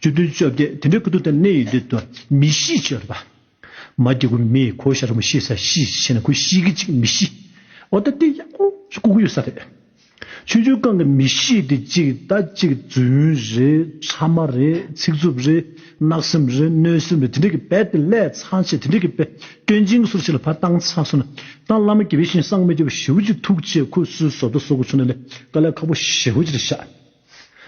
བཅུ་བདུན་བཅོ་བརྒྱད་དེ་འདྲའི་ཀུན་ཏུ་དང་གནས་ཡུལ་འདི་དུ་མི་གཤིས་ཆེ་རུ་བ། མ་སྐྱེ་དགུ་མི་གོ་ཤ་རུ་མི་ཤེས་ས་གཤིས་ཆེ་ན་ཁུ་ཤིག་གི་ཅིག་མི་གཤིས་འོ་ད་དེ་ཡག་པོ་ལྐུག་གི་ཡོད་ས་རེད། ཆུང་ཆུང་རྐང་གི་མི་གཤིས་དེ་ཅིག་ད་ཅིག་རྫུན་རེད་ཕྲ་མ་རེད་ཚིག་རྩུབ་རེད་གནག་སེམས་རེད་གནོད་སེམས་རེད་དེ་འདྲའི་གི་བད་དེ་ཀླད་ཚང་ཆེ་དེ་འདྲའི་གི་བད་སྐྱོན་ཅིང་སུར་ཆེ་ལ་བ་ཏང་ཚང་སུ་ན་ཏང་བླ་མ་དགེ་བའི་བཤེས་གསང་མི་དགེ་བ་ཞི་བུ་ཅིག་ཐུགས་རྗེ་ཁུ་སུ་བཟོ་ད་བཟོ་གི་ཆུ་ན་ལས་ཀ་ལས་ཁ་པོ་ཞི་བུ་ཅིག་ཤ།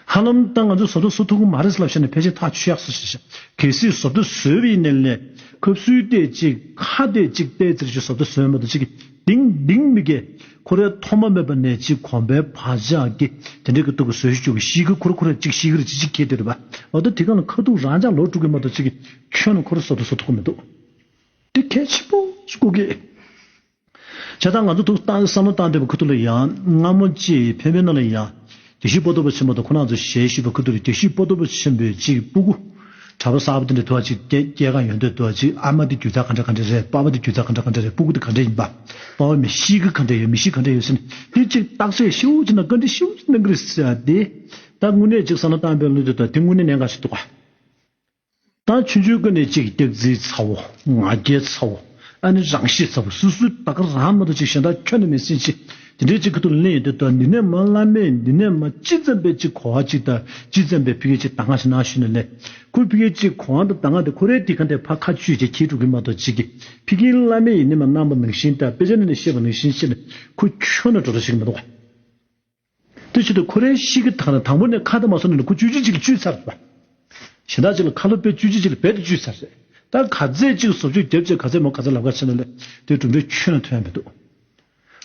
ཧ་ལམ་ད་ང་ཚོས་ཟོ་དྲོ་ཟོ་ཐུབ་གི་མ་རེད་ཟེར་ལབ་བཤད་ནས་ཕལ་ཆེར་ཐག་ཆོད་ཡག་སོ་ཞེས་བཤད། གལ་སྲིད་ཟོ་དྲོ་ཟོས་པའི་མནལ་ནས་ཁབ་སུལ་གཏད་ཅིག་ཁ་གཏད་ཅིག་གཏད་ཟེར་གྱི་ཟོ་དྲོ་ཟོས་མེད་དོ་ཅིག་གིས་དིང་དིང་མི་དགེ་ཁོ་རས་ཐོག་མ་མེད་པ་ནས་ཅིག་གོམས་པའི་བག་ཆགས་ཀྱིས་དེ་འདྲའི་གི་ཐུག་གི་ཟོས་བཅུག་གི་ཤི་གི་ཁོ་ར་ཁོ་རས་ཅིག་ཤི་གི་ར་ཅིག་ཅིག་གིས་དེ་རུ་བབ་དོ་དེ་ག་ལ་ཁ་ཐུག་རང་ཅག་ལོག་འགྲོ་གི་མ་དོ་ཅིག་གིས་ཁྱོད་རྣམས་ཁོ་ར་ཟོ་དྲོ་ཟོ་ཐུབ་གི་མི་འདུག་དེ་གལ་ཆེན་པོ་ཞིག་གོ་གི། བྱས་ཙང་ང་ཚོ་ཐུགས་བཏང་བསམ་བློ་བཏང་འདོད་པ་ཁུ་ཐུ་ལ་ཡང་སྔ་མོ་ཅི་ཕན་ཕན་ནོ་ལ་ཡང། དགེ་བཤེས་པོ་ཏོ་པོ་ཆེན་པོ་དང་ཁོ་ན་ཚོ་ཞལ་བཤུས་པ་ཁུ་ཐུ་རེད་དགེ་བཤེས་པོ་ཏོ་པོ་ཆེན་པོས་གཅིག་སྤུ་གུ། གྲྭ་པ་གསར་པ་དེ་འདྲ་དུ་བ་གཅིག་སྐྱེ་སྐྱེ་གང་ཡོད་འདོད་དུ་བ་གཅིག་ཨ་མ་དེ་རྒྱུ་ཚ་ག་འདྲ་ག་འདྲ་རེད་དཔའ་བོ་དེ་རྒྱུ་ཚ་ག་འདྲ་ག་འདྲ་རེད་སྤུ་གུ་དེ་ག་འདྲ་ཡིན་པ་དཔའ་བོ་མི་གཤིས་ཀི་ག་འདྲ་ཡོད་མི་གཤིས་ག་འདྲ་ཡོད་ཟེར་ནས་དེ་གཅིག་བརྟག་དཔྱད་ཤུགས་ཆེ་ན་བཀའ་འདྲི་ཤུགས་ཆེ་གནང་གི་རེད་ཟེར་བ་དེ་ད་དངོས་གནས་གཅིག་བསམ་བློ་བཏང་འདོད་ལོ་འདོད་དུ་བ་དེ་དངོས་གནས་ནད་འགའ་ཞིག་འདུག་ག། དང་ཆུ་མཆོད་ཀུན་ནས་གཅིག་སྟེགས་རྩིའི་ཚ་བོ་ང་རྒྱལ་ཚ་བོ་ཨ་ནི་རང་གཤིས་ཚ་བོ་སུ་སུ་ད་ག་རང་མི་དང་གཅིག་གཞན་དག་ཁྱོད་ནི་མི་སེམས་ཅི་དེ་འདྲའི་གཅིག་གི་ཐུགས་ལན་ཡོད་དེ་དོ་འདི་ནས་མ་བླ་མས་འདི་ནས་མ་ཅི་ཙམ་པས་ཅི་གོ་བ་གཅིག་དང་ཅི་ཙམ་པས་ཕི་གས་ཅི་ད་ང་ཞེ་ནའང་ཞུས་ནས་ལན་ཁོ་ཕི་གས་ཅི་གོ་བ་དང་ད་ང་དེ་ཁོ་རའི་དེ་ག་འདྲའི་ཕ་ཁ་ཆུས་ཀྱིས་ཁྱེད་དཀྲུག་གི་མ་གཏོགས་ཅི་གི་ཕི་གིའི་བླ་མས་ཡིན་ནས་མ་གནང་པ་ནང་བཞིན་དང་དཔེ་ཆ་ནས་ནས་ཤེས་པ་ནང་བཞིན་ཤེས་ནས་ཁོ་ཁྱོད་ནི་འགྲོ་ར་ཞིག་མི་འདུག། དེའི་ཆེད་དུ་ཁོ་རེ་ཤིག་གིས་དང་ལེན་དང་པོ་ནས་ཁ་ད་མ་སོང་ནས་ལུ་གུ་བཅུ་གཅིག་ཅིག་བཅུས་ཚར་རེད། གཞན་དག་ཅིག་ལ་ཁ་ལོ་པད་བཅུ་གཅིག་ཅིག་ལ་བད་དུ་བཅུས་ཚར་རེད། ད་ག་ཚད་ཅིག་བཟོ་བཅོས་བརྒྱབ་ཅེས་ག་ཚད་མོ་ག་ཚད་ལབ་ག་བྱས་ན་ལེ། དེའི་གྲུབ་འབྲས་ཁྱོད་ལ་ཐོན་ཡ་མི་འདུག།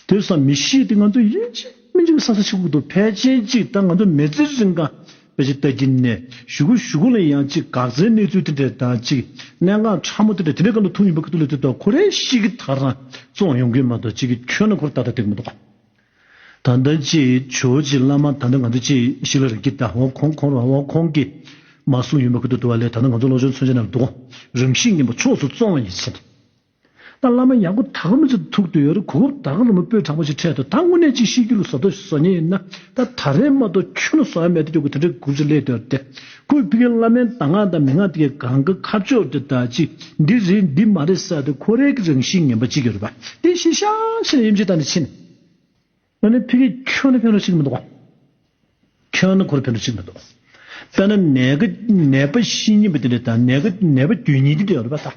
དེ་བསམ་མི་ཤེས་ཏེ་ང་ཚོ་ཡིན་གཅིག་མིན་གཅིག་གི་ས་ས་ཆི་ཁུག་ཏུ་ཕལ་ཆེན་ཅིག་ད་ང་ཚོ་མེ་ཙི་རིང་ཀང་བད་ཅིག་ལྟ་གིན་ནས་ཞུ་གུ་ཞུ་གུ་ལ་ཡང་ཅིག་འགག་རྩའི་གནས་ཚུལ་དེ་འདྲས་དང་ཅིག་གནད་འགག་ཕྲ་མོ་དེ་འདྲས་དེ་འདྲས་གང་དུ་ཐུག་ཡིན་པ་གི་ཐུག་ལ་དེ་དག་ཁོ་རེ་ཤིག་གིས་ད་རང་བཙོང་ཡོང་གིན་མ་འདུག་ཅིག་གིས་ཁྱོད་ལ་ཁོ་ར་ད་ད་དེ་གི་མི་འདུག། ད་ལྟ་ཅེས་ཇོ་ཅེ་བླ་མ་ད་ལྟ་ང་ཚོ་ཅེས་ཤི་ལ་རིག་གི་ད་འོང་ཁོང་ཁོང་རང་འོང་ཁོང་གིས་མ་གསུངས་ཡོད་མ་ཁུ་དུ་དུ་བ་ལས་ད་ལྟ་ང་ཚོ་བློ་ཆུང་མཚོན་ཆ་ནང་འདུག་རང་གཤིས་ངན་པ་ཕྱོགས་སུ་བཙོང་བ་ཡིན་ཟེར་ནས། ད་བླ་མ་ཡག་པོ་ད་ག་མི་ཚེ་ཐུག་བསྡོད་ཡོད་རེད་གོ་ཧུབ་ད་ག་རོ་མོ་དཔོན་དྲང་པོ་ཞིག་འཕྲད་འདུག་ད་དངོས་གནས་ཅིག་ཤི་རྒྱུ་ལ་བཟོ་བསྡོད་བཟོ་ཉེ་ཡིན་ན་ད་ད་རེས་མ་གཏོགས་ཁྱོད་ལ་བཟོ་ཡ་མེད་དུ་སྐྱོ་གི་དེ་འདྲའི་དགུ་བརྩི་ལེ་འདོད་དེ་ཁོས་བི་ཀེ་བླ་མའི་གདམས་ངག་དང་མན་ངག་དེ་གའི་གང་གི་ཁ་ཕྱོགས་དེ་དག་ཅིག་འདི་རེད་འདི་མ་རེད་བསལ་ཏེ་ཁོ་རེ་གི་རང་བཞིན་ངན་པ་གཅིག་ཡོད་པ་དེ་བཞིན་ཤང་ཤང་དབྱིབས་འབྱེད་བཏང་ནས་ཕྱིན། ང་ནི་བི་ཀེ་ཁྱོད་ནི་ཕན་རོགས་ཤིག་མི་འདུག། ཁྱོད་ནི་ཁོ་རུ་ཕན་རོགས་ཤིག་མི་འདུག། དཔེར་ན་ནད་ཀྱི་ནད་པ་བཞི་གཉིས་པ་དེ་འདྲ་དང་ནད་ཀྱི་ནད་པ་བརྒྱུད་གཉིས་དེ་འདྲ་ཡོད་པ་དང།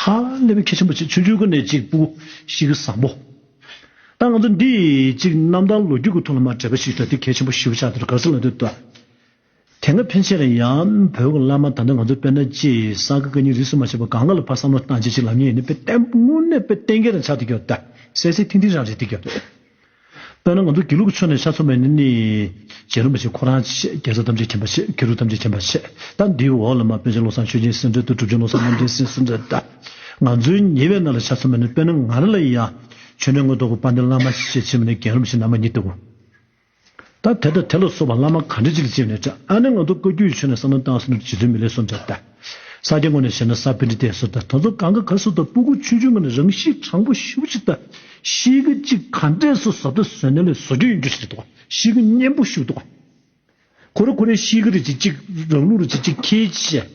ཧ་ལས་པའི་ཁྱེད་ཆེན་པོ་ཆེ་ཆུང་ཆུང་གི་ནས་གཅིག་པུ་ཞིག་གི་བཟང་པོ། ད་ང་ཚོ་འདིས་གཅིག་གནམ་ཐང་ལོ་རྒྱུས་ཀྱི་ཐོག་ལ་མ་འདྲེས་པ་ཞིག་ད་དེ་གལ་ཆེན་པོ་ཞིག་བྱ་འདིར་དགའ་བསུ་ལ་འདོད། དེ་སྔ་ཕན་ཆད་ལ་ཡང་བོད་ཀྱི་བླ་མ་དམ་ནས་ང་ཚོ་དཔལ་ནཱ་ཅེས་ས་ག་ག་གཉིས་རིས་སུ་མ་ཆད་པ་ག་ང་ལ་ཕར་བསམ་བློ་བཏང་བྱས་ཅིག་ལབ་ཉེས་ཡིན་ནི་དཔེ་བརྟན་པོ་དངོས་གནས་དཔེ་བརྟན་གྱི་རང་ཆ་འདི་གྱོ་ད། གསལ་གསལ་ཐིང་ཐིང་རང་རེད་འདི་གྱོ། དཔེར་ན་ང་ཚོ་དགེ་ལུགས་ཀྱི་ཆོས་ནས་ཤ་ཚོམ་པའི་ནི་ནི། རྗེ་རིན་པོ་ཆེ་ཁོ་རང་ཆེས་རྒྱལ་ས་ཐམས་ཅད་མཁྱེན་པ་ཆེས་དགེ་ལུགས་ཐམས་ཅད་མཁྱེན་པ་ཆེས་ད་འདིའི་འོག་ལ་མ་དཔལ་ཆེན་བློ་བཟང་ཆོས་སྦྱིན་སེང་སྤྲེལ་དུ་གྲུབ་ཆེན་བློ་བཟང་རྣམ་རྒྱལ་སེང་སེང་སྤྲེལ་ད་ང་ཚོའི་ཉེ་བའི་ནང་ལ་ཤ་ཚོམ་པ་ནི་དཔེར་ན་ང་རང་ལ་ཡིན་ཡང། ཆོས་ནས་དངོས་ཐོག་གི་དཔའ་འདེམས་བླ་མ་ཞེས་བྱེད་པ་ནི་རྒན་རབས་ཤིང་ནར་མ་ཉིད་དེ། ད་དེ་ལྟ་དེ་ལ་སོགས་པ་བླ་མ་གང་འདྲས་ཅིག་ལ་ཅིག་ནས་ཀྱང་ཨ་ནི་ང་ཚོ་བཀའ་བརྒྱུད་ཆོས་ནི་བསམ་ན་གཏང་སྲིད་ནོར་འདི་ཇི་ཚོད་མི་ལེགས་སོ་འདྲ་ལྟ། ས་སྐྱའི་ངོ་ནས་བཤད་ན་ས་བོན་འདི་བསྟན་སོ་ལྟ་ད་ཚོ་གང་ག་ག་སོ་ལྟ་སྤུ་གུ་ཆུང་ཆུང་ངོ་ནས་རང་གཤིས་དྲང་པོ་ཞིབ་ཅིག་ལྟ། གཤིས་ཀ་ཅིག་ག་འདྲས་སོ་ཟབ་ལྟ་བཟོད་ནས་ལས་བཟོ་རྒྱུ་ཡིན་རྒྱུ་ཞིག་རེད་དོ། གཤིས་ཀ་གཉན་པོ་ཞུགས་དོ། ཁོ་ར་ཁོ་རའི་གཤིས་ཀ་རེ་ཅིག་ཅིག་རང་ལུགས་རེ་ཅིག་ཅིག་ཁྱེད་ཀྱིས།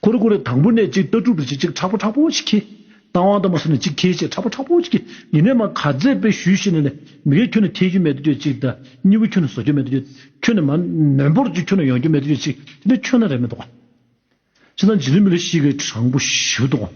གུ་རུ་གུ་རུ་དང་པོ་ནས་གཅིག་ལྟ་གྲུབ་ཏུ་གཅིག་གཅིག་ཕྲག་པ་ཕྲག་པོ་ཅིག་ཁྱེད། རྟ་དབང་དང་པོ་སོགས་ནས་གཅིག་ཁྱེད་ཅེས་ཕྲག་པ་ཕྲག་པོ་ཅིག་གིས་ཉི་མས་མ་ག་ཙས་པའི་ཞུས་ཤིག་ནས་ནས་མི་གེ་ཁྱོད་ནི་ཐེག་རྒྱུ་མེད་དུ་གྱུར་ཅིག་དང་གཉིས་པོ་ཁྱོད་ནི་བཟོ་རྒྱུ་མེད་དུ་གྱུར་ཁྱོད་ནི་མ་ནོན་པོར་གྱུར་ཁྱོད་ནི་ཡོང་རྒྱུ་མེད་དུ་གྱུར་ཅིག་དེ་ནི་ཁྱོད་ན་རེ་མེད་དོ། ཅི་དང་ཇི་ལུས་མི་ལུས་ཤིག་གེ་དྲང་པོ་ཞིག་ཏུ་དགོངས།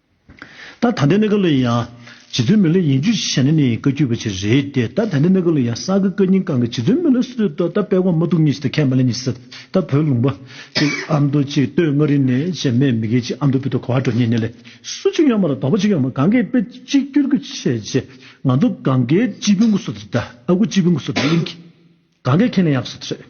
ད་ད་ལྟའི་གནད་ཀ་ལོ་ཡིན་ཡང། རྗེ་བཙུན་མི་ལོ་ཡིན་རྒྱུ་ཞེ་ན་ནི་བཀའ་བརྒྱུད་པ་ཅིག་རེད་དེ་ད་ད་ལྟའི་གནད་ཀ་ལོ་ཡང་ས་ག་བཀའ་རྙིང་གང་གི་རྗེ་བཙུན་མི་ལོ་སུ་ཏོ་ད་དཔལ་དབང་མ་ཐུགས་གཉིས་ཞེ་ད་ཁས་མ་ལེན་གཉིས་ཞེ་ད་བོད་ལུང་པ་ཅིག་ཨ་མདོ་ཅིག་སྟོད་མངའ་རིས་ནས་ཞེ་མེད་མི་སྒེར་ཅིག་ཨ་མདོ་བོད་དུ་གོ་བ་འགྲོ་ཉེ་ནས་ལས་སུ་ཅིག་ཡོང་མ་ལ་དོགས་པ་ཅིག་ཡོང་མ་གང་གའི་དཔེ་གཅིག་བསྐྱུར་རྒྱུ་བྱས་རྗེས་ང་ཚོ་གང་གའི་སྤྱི་དཔོན་སྐུ་སོ་ད་ཨ་ཁུ་སྤྱི་དཔོན་སྐུ་སོ་ད་གླིང་གི་གང་གའི་ཁས་ལེན་ཡག་སོ་ད་རེད།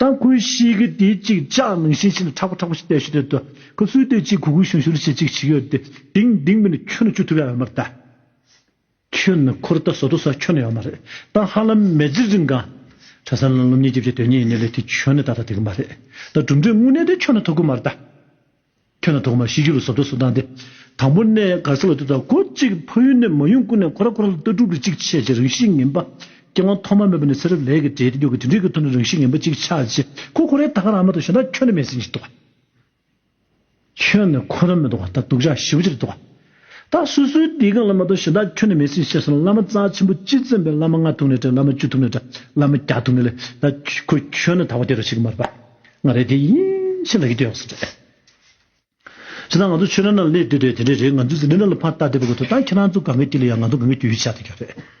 དང་ཁོའི་གཤིས་ཀྱི་དེ་ཅིག་ཅག་ནང་བཞིན་ཤིན་ཏུ་ཁྲག་པོ་ཁྲག་པོ་ཞིག་བལྟས་ཤིག་དེ་དུ་ཁོ་གསོས་དེ་ཅིག་གུ་གུ་ཞུན་ཞུར་ཞེས་ཅིག་བྱེད་ཀྱི་ཡོད་དེ་དེང་དེང་མིན་ཁྱོད་ནི་ཅུ་ཐུ་ལ་ཡོད་མ་རེད་ད། ཁྱོད་ནི་ཁོ་རེད་ད་ཟོ་དོ་ཟ་ཁྱོད་ནི་ཡོད་མ་རེད་ད་ཧ་ལམ་མེ་རྫི་རིང་གང། གྲྭ་ས་ནང་སློབ་གཉེར་བགྱིད་བྱེད་དོན་གཉེར་ཡིན་ནི་ལེ་དེ་ཁྱོད་ནི་ད་ད་དེ་གི་མ་རེད་ད་གྲུབ་འབྲས་དངོས་གནས་དེ་ཁྱོད་ནི་ཐོབ་གི་མ་རེད་ད། ཁྱོད་ལ་ཐོག་མར་ཤི་རྒྱུ་ལ་ཟོབ་ཏོ་ཟོབ་དང་སྟེ། དང་པོ་ནས་གར་སོང་བའི་དུས་དང་གོ་གཅིག་ཕ་ཡུལ་ནས་མ་ཡོང་ཀུན་ནས་ཁོ་ར་ཁོ་ར་ལ་ལྟ་གྲུབ་ཀྱི་གཅིག་ཆད་ཅིག་རང་བཞིན་ངན་པ། སྐྱེ་དབང་ཐོག་མ་མེད་པ་ནས་ཚེ་རབས་ལས་ཀྱི་འབྲས་དུས་ཀྱི་དུས་འབྲས་ཀྱི་ཐོག་ནས་རང་བཞིན་ངན་པ་གཅིག་ཆགས་རྗེས་ཁོ་ཁོ་རའི་ད་ག་རང་མ་གཏོགས་གཞན་དག་ཁྱོད་ནས་མེད་ཟིན་ཅིག་འདུག། ཁྱོད་ནས་ཁོ་ར་མེད་འདུག་ད་སྡུག་ཅག་ཞི་བ་ཅིག་འདུག། ད་སུ་སུའི་སྡིག་རྐང་ལ་མ་གཏོགས་གཞན་དག་ཁྱོན་ནས་མེད་སྲིད་ཤེས་སོང་བླ་མ་རྩ་ཆེན་པོ་སྤྱི་བཙན་པའི་བླ་མ་ལྔ་ཐུག་ནས་བྲལ་བླ་མ་བཅུ་ཐུག་ནས་བྲལ་བླ་མ་བརྒྱ་ཐུག་ནས་ལས་ད་ཁོ་ཁྱོད་ནི་ད་བ་དེ་རེད་ཤི་གི་མ་རེད་པ་ང་རེད་དེ་ཡིན་ཤི་ལ་གི་དེ་ཡོང་སོང་རེད། ཇི་ལྟར་ང་ཚོ་ཆོས་ར་ན་ལས་འདི་རེད་དེ་འདྲ་རེད་ང་ཚོས་ཟིན་འདྲ་ལ་ཕར་ལྟ་བསྡད་པ་ཁོ་ཐུག་ད་ཁྱེད་རང་ཚོ་ག་ངའི་དཀྱིལ་ལ་ཡ་ང་ཚོ་ག་ངའི་དཀྱིལ་ཡོད་ཆ་དེ་ག་རེད།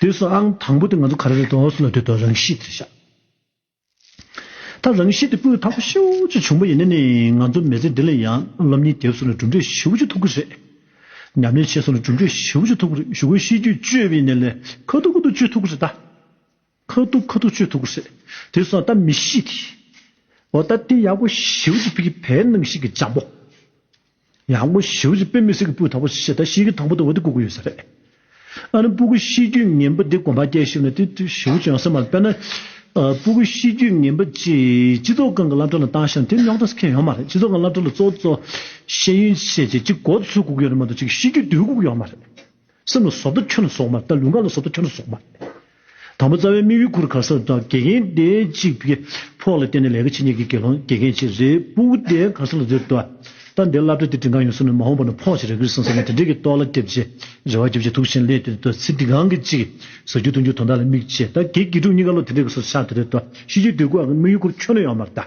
དུས་སུ་ཨང་དང་པོ་དེ་ང་ཚོ་ག་རེ་རེད་དོ་སོང་ལ་དུས་དང་རང་གཤིས་དེ་ཤ་ཐག་རང་གཤིས་དེ་སྤུས་དག་པོ་ཤུགས་ཆེ་བྱུང་པ་ཡིན་ན་ནི་ང་ཚོ་མི་ཚེ་འདི་ལ་ཡང་སློབ་གཉེར་དེབ་སོང་ལ་གྲུབ་འབྲས་ཞེ་བོ་ཅུ་ཐོབ་ཀི་རེད། ཉམས་ལེན་བྱས་སོང་ལ་གྲུབ་འབྲས་ཞེ་བོ་ཅུ་ཐོབ་ཀི་རེད་ཞུ་སྒོའི་གཤིས་རྒྱུད་བཅོས་པའི་ནས་ལས་ཁ་ཐུག་ཁུ་ཐུག་བཅོས་ཐུབ་ཀི་རེད་ད། ཁ་ཐུག་ཁ་ཐུག་ཆོས་ཐུག་གུ་སེ། དེ་སོང་ད་མི་ཤི་དེ། འོ་ད་དེ་ཡག་པོ་ཞིའུ་ཅི་ཕི་གི་བལ་སྣང་ཤིག་གི་འཇམ་པོ། ཡག་པོ་ཞིའུ་ཅི་པེ་མི་སེར་གི་སྤུས་དག་པོ་ཤི་ད་ཤིའི་གི་དང་པོ་དེ་འོ་དེ་གུ་གུ་ཡོད་ས་རེད། ཨ་ནི་སྤུ་གུ་ཤི་རྒྱུ་ངན་པོ་དེ་གོམ་པ་རྒྱག་ཤིའུ་ན་དེ་ཞིའུ་ཅི་ཡང་སེ་མ་རེད་པེ་ན། སྤུ་གུ་ཤི་རྒྱུ་ངན་པོ་ཅི་སྤྱི་ཚོགས་ཁང་གི་བླ་འབྲོག་ལ་བཏང་ཤིའུ་ན་དེ་རྙོག་དྲ་སེ་ཁེ་ཡོད་མ་རེད་སྤྱི་ཚོགས་ཁང་བླ་འབྲོག་ལ་ཙོ་ཙོ་ཤེས་ཡོན་ཤེས་ཅེ་ཅི་གོ་ཚུལ་གུ་གུ་ཡོད་རེད་མ་གཏོགས་ཅིག་ཤི་རྒྱུ་དེ་གུ་གུ་ཡོད་མ་རེད། སེམས་ལ་བཟོ་ལྟ་ཁྱོད་ལ་བཟོ་མ་རེད་ད་ལུས་ངག་ལ་བཟོ་ལྟ་ཁྱོད་ལ་བཟོ་མ་རེད། དང་པོ་རྩ་བའི་དམིགས་ཡུལ་གུར་ག་སར་དང་དགེ་རྒན་སྡེ་གཅིག་པའི་ཕོགས་ལ་བརྟེན་ནས་ལས་ཀ་བྱེད་མཁན་གྱི་དགེ་སློང་དགེ་རྒན་ཆེད་རེ་སྤུག་སྡེ་ག་སར་ལ་འཛུལ་ལྟ་སྟངས་འདིར་བླ་བྲེ་སྟེ་དྲིན་གང་ཡོང་སོང་ནས་མ་འོངས་པ་ན་ཕོགས་ཆེ་རེ་གིར་སོང་ཟེར་ནས་དེ་འདྲས་ཀྱི་ཏོག་ལ་སྐྱེ་བྱེད་རེ་བ་རྒྱུ་བྱེད་དུག་ཆེན་སླད་དུ་དུས་ཚིགས་འདི་གང་གི་གཅིག་གཟའ་རྒྱུ་སྟོན་རྒྱུ་དོན་དག་ལ་དམིགས་བྱས་ད་གེ་དགེ་དྲུག་གཉིས་ཀ་བློ་དེ་འདྲས་ཀྱི་སོར་ཆགས་དེ་རེད་དོ་ཤེས་རྒྱུའི་དུས་ཀུ་ཨ་གི་དམིགས་ཡུལ་གུར་ཁྱོད་ནོ་ཡང་མར་ལྟ།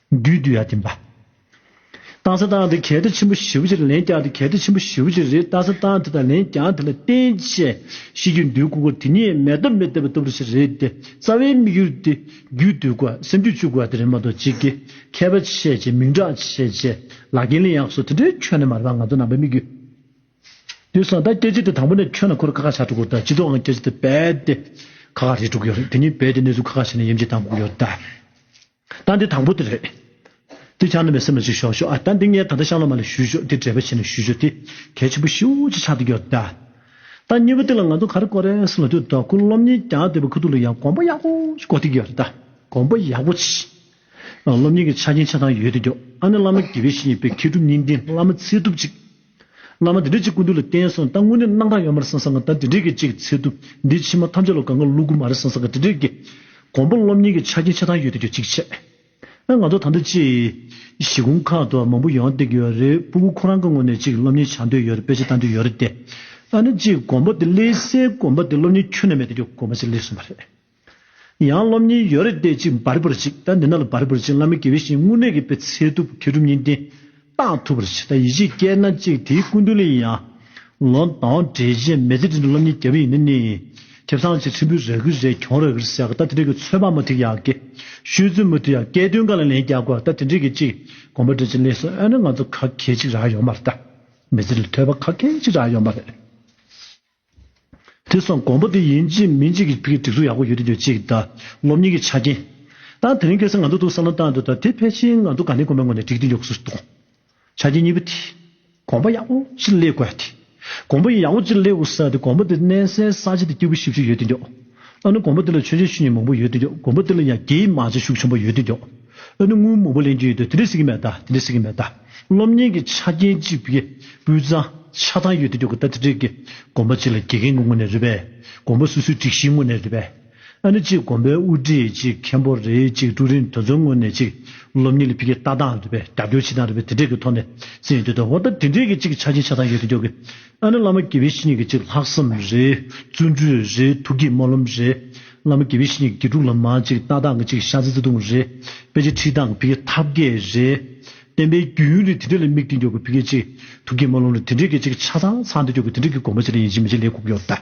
རྒྱུད་དུ་ཡང་བསྟན་པ། རཏྣ་ས་ཏྭ་འདི་གལ་ཏེ་ཆེན་པོ་བཞི་བོ་ཅི་རེད་ལན་བརྒྱ་འདི་གལ་ཏེ་ཆེན་པོ་བཞི་བོ་ཅི་རེད་རཏྣ་ས་ཏྭ་འདི་དང་ལན་བརྒྱ་འདི་ལ་བརྟེན་བཅས་ཤེས་རྒྱུད་འདུལ་དགོས་ཀོ་དེ་ཉིད་མེ་ཏོག་མི་ལྡེ་བ་ལྟ་བུ་ཅི་རེད་དེ་རྩ་བའི་དམིགས་ཡུལ་དེ་རྒྱུད་སྡུད་དགོས་བ་སེམས་རྒྱུད་བཅུག་དགོས་བ་དེ་རེད་མ་གཏོགས་གཅིག་གིས་མཁས་པ་བྱས་རྗེས་མིང་གྲགས་བྱས་རྗེས་ལ་རྒན་ལི་ཡག་སོགས་དེ་འདྲའི་ཁྱོན་ནས་མ་རེད་པ་ང་ཚོ་ནང་པའི་དམིགས་ཡུལ་དེ་སོང་ད་སྐྱེ་རྗེས་དེ་དང་པོ་ནས་ཁྱོན་ལ་འཁོར་ཁ་ཁ་བྱ་འགྲོ་དགོས་ད་སྤྱི་ཚོགས་ངང་སྐྱེ་རྗེས་དེ་རྦད་དེ་ཁ་ཁ་རེད་འགྲོ་གི་ཡོད་རེད་དེ་ཉིད་རྦད་དེ་གནས་ཚུལ་ཁ་ཁ་བྱས་ནས་ཡེམ་ཆད་བཏང་དགོས་ཀྱི་ཡོད་ད། ད་འདི་དང་པོ་དེ་རེད། དེ་ཆགས་ན་མི་སེམས་ལ་ཅིག་ཞོག་ཞོག་ཨ་ད་འདི་ངས་ད་ལྟ་ཤང་ལ་མ་ལས་ཞུས་ཞོག་དེ་འདྲེས་པ་བྱས་ནས་ཞུས་ཞོག་དེ་གལ་ཆེན་པོ་ཤིའུ་ཅིག་ཆགས་འདུག་གི་ཨ་ད་སྙི་བོ་དེ་ལ་ང་ཚོ་ག་རེ་གོ་རེ་སུ་ལ་ཐུག་ད་ཁུ་སློབ་གཉིས་ཀྱང་དེ་བས་ཁུ་ཐུག་ལ་ཡང་གོམ་པ་ཡག་པོ་ཞིག་གོ་ཐུག་གི་ཨ་ད་གོམ་པ་ཡག་པོ་ཞིག་སློབ་གཉིས་ཀྱི་ཆ་རྐྱེན་ཆ་ཚང་ཡོད་དུ་གྱོ་ཨ་ནི་བླ་མ་དགེ་བའི་བཤེས་གཉེན་དཔལ་མཁས་གྲུབ་གཉིས་ལྡན་བླ་མ་ཚེ་སྒྲུབ་ཅིག། བླ་མ་དེ་འདྲས་ཅིག་ཀུན་འདུས་ལ་བསྟེན་སོང་ད་དངོས་གནས་སྣང་གྲགས་ཡོད་མ་རེད་སང་སང་ག་ད་དེ་འདྲས་ཀྱི་ཅིག་ཚེ་ཐུབ་འདི་ཕྱི་མ་ཐམས་ཅད་ལ་ག་ང་ལུག་གུ་མ་རེད་སང་སང་ག་དེ་འདྲས་ཀྱི། གོང་པོ་སློབ་གཉེར་གྱི་ཆ་རྐྱེན་ཆ་ཚང་ཡོད་དུ་གྱུར་ཅིག་བྱས། ཨ་ང་ཚོ་ད་ལྟ་ཅིག། གཞིས་ཁུངས་ཁག་ཏུ་མང་པོ་ཡོང་སྡད་ཀྱི་ཡོད་རེད་སྤུ་གུ་ཁོ་རང་གི་ངོས་ནས་ཅིག་སློབ་གཉེར་བྱ་འདོད་ཡོད་རེད་དཔེ་ཆ་ལྟ་འདོད་ཡོད་རེད་དེ། ཨ་ནི་ཅིག་གོང་པོ་དེ་ཀླད་སའི་གོམ་པ་དེ་སློབ་གཉེར་ཁྱོན་ནས་མེད་དུ་གྱུར་གོམ་པ་ཅིག་ཀླད་སོང་བ་རེད། ཡང་སློབ་གཉིས་ཡོད་རེད་བལྟས་ཅིག་འབར་འབར་ཅིག་ད་འདི་ན་ལ་འབར་འབར་ཅིག་བླ་མའི་དགེ་བའི་བཤེས་དངོས་གནས་ཀྱི་དཔེ་ཚད་ཐུབ་མཁས་གྲུབ་གཉིས་ལྡན་རྟགས་ཐུབ་པར་བྱེད་ད་ཡིད་ཆེས་སྐྱེས་ན་ཅིག་དེའི་སྐུ་མདུན་ལ་ཡང་ལོ་འདང་བྲེལ་རྗེས་མེ་ལྟེ་དྲིལ་འདུག་སློབ་གཉིས་རྒྱ་བོད་ཡིན་ན་ནི་ཁྱབ་ཚང་ཆེ་ཁྲིམས་བུ་རེ་གུ་རེ་གྱོང་རེ་གུ་རེ་ཟེར་ག་ད་དེ་འདྲ་གི་ཚོད་དཔག་མ་ཐིག་ཡག་གི་ཤོད་ཚུལ་མ་ཐུག་ཡག་སྐད་དོན་ག་ལ་ལན་རྒྱག་དགོས་ད་དེ་འདྲ་གི་ཅིག་དགོངས་པ་འདྲ་ཅིག་ལེགས་སོ་ཨེ་ན་ང་ཚོ་ག་གེ་ཅིག་རག་ཡོང་མ་རེད་ད་མི་ཚེ་ལ་ཐོས་པ་ག་གེ་ཅིག་རག་ཡོང་མ་རེད། དེ་སོང་གོང་པོ་དེ་ཡིན་གཅིག་མིན་གཅིག་གི་སྒྲིག་འཛུགས་ཡག་པོ་ཡོད་དུ་ཡོད་ཅིག་དང་སློབ་གཉེར་གྱི་ཆ་རྐྱེན། དང་དེ་རིང་སྐལ་བཟང་ང་ཚོ་ཏུ་བསམ་བློ་བཏང་འདུག་དང་དེ་ཕལ་ཆེར་ང་ཚོ་དགའ་ལྡན་དགོན་པའི་ངོས་ནས་སྒྲིག་འདི་མགྱོགས་སུ་གཏོང་དགོས། ཆ་རྐྱེན་གཉིས་པོ་དེ། གོང་པོ་ཡག་པོ་གཅིག་སླེབས་དགོས་ཏེ། གོང་པོ་ཡག་པོ་གཅིག་སླེབས་དགོས་ས་དེ་གོང་པོ་དེ་གནས་སའི་ས་ཆ་དེ་སྐྱིད་པོ་ཤིག་ཤིག་ཡོད་དུ་མགྱོགས། ལྷག་ན་གོང་པོ་དེ་ལ་ཆོས་རྗེ་ཆོས་ཉིད་མང་པོ་ཡོད་དུ་མགྱོགས་གོང་པོ་དེ་ལ་ཡང་རྒྱའི་མང་ཆ་ཤུགས་ཆེན་པོ་ཡོད་དུ་མགྱོགས། ཨ་ནུ་སྔོན་མོ་བུ་ལེན་གྱི་ཡོད་དུས་དེ་འདྲའི་སྲིད་ཀྱི་མེད་ད་དེ་འདྲའི་སྲིད་ཀྱི་མེད་ད། སློབ་གཉེར་གྱི་ཆ་རྐྱེན་གཅིག་པུས་སྤུས་གཙང་ཆ་ཚང་ཡོད་དུས་ཀྱི་གོ་བརྡ་དེ་འདྲས་ཀྱི་དགོངས་པ་གཅིག་ལ་དགེ་རྒན་ངོ་ངོ་ནས་རེད་པས་དགོངས་པ་སུ་སུའི་སྒྲིག་གཞི་ངོ་ནས་རེད་པས། ཨ་ནུ་གཅིག་དགོན་པའི་དབུ་ཁྲིད་གཅིག་མཁན་པོ་རེད་གཅིག་ཀྲུའུ་རིན་དོན་ཚོགས་ངོ་ནས་གཅིག་སློབ་གཉེར་ལས་འཕེལ་གྱི་ལྟ་སྟངས་རེད་པས་རྒྱབ་སྐྱོར་བྱེད་སྟངས་རེད་པས་དེ་འདྲས་ཀྱི་ཐོག་ནས་སྲིད་ཡོད་དུས་དགོངས་པ་དེ་འདྲས་ཀྱི་གཅིག་ཆ་རྐྱེན་ཆ་ཚང་ཡོད་དུས་ཀྱི་ཨ་ནི་བླ་མ་དགེ་བའི་བཤེས་གཉེན་གྱི་གཅིག་ལྷག་བསམ་རེ། བརྩོན་འགྲུས་རེ། ཐུགས་ཀྱི་སྨོན་ལམ་རེ། བླ་མ་དགེ་བའི་བཤེས་གཉེན་གྱི་དགེ་ཕྲུག་ལ་མ་གཅིག་རྟ་དང་གི་གཅིག་ཤ་ཚིལ་བརྩེ་དུང་རེ། དཔེ་ཆའི་ཁྲིད་སྟངས་གི་བུ་གའི་ཐབས་མཁས་རེ། བསྟན་པའི་རྒྱུན་ཡུན་རིང་དེ་འདྲས་ལ་དམིགས་ཏེ་འཇོག་གི་བུ་གའི་གཅིག། ཐུགས་ཀྱི་སྨོན་ལམ་རེ་དེ་འདྲས་ཀྱི་གཅིག་ཆ་ཚང་ཚང་དེ་འཇོག་གི་དེ་འདྲས་ཀྱི་དགོངས་པ་ཅི་ལ་ཡིན་ཅི་མིན་ཅི་ལས་ཁུག་ཡོད་དམ།